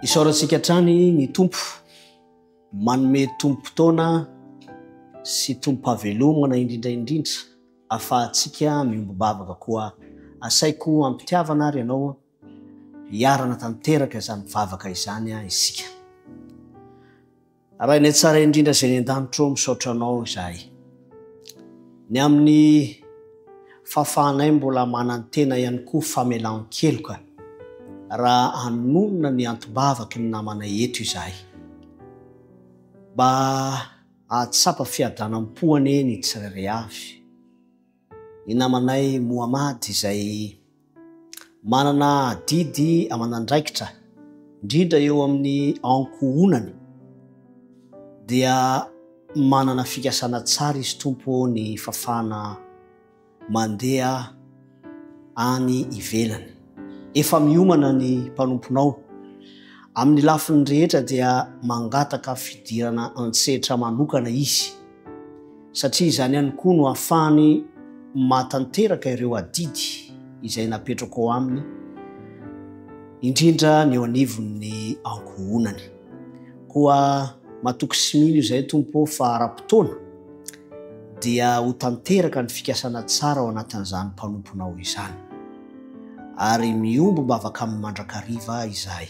Isaorantsika hatrany ny Tompo manome tombom-potoana sy tombom-pahavelomana indrindra indrindra ahafahantsika miombom-bavaka koa. Asaiko am-pitiavana ary ianao hiarana tanteraka izany vavaka izany isika. Ray any an-tsara indrindra izay any an-danitra ô, misaotra Anao izahay. Ny amin'ny fahafahanay mbola manantena ihany koa famelan-keloka raha anonona ny anti-bavaky ny namanay eto izahay. Mba hahatsapa fiadanam-po anie ny tsirairay avy. ny namanay Mohamady izay manana adidy aman'andraikitra indrindra eo amin'ny ankohonany dia manana fikasana tsara izy Tompo ny fafana mandeha any ivelany. Efa miomana ny mpanomponao amin'ny lafiny rehetra dia mangataka fidirana an-tsehatra manokana izy. satria izany ihany koa no hahafahany mahatanteraka ireo adidy izay napetrako ao aminy, indrindra ny eo anivon'ny ankohonany. Koa matoky sy mino izahay, Tompo ô, fa ara-potoana dia ho tanteraka ny fikasana tsara ao anatin'izany mpanomponao izany, ary miombom-bavaka aminy mandrakariva izahay.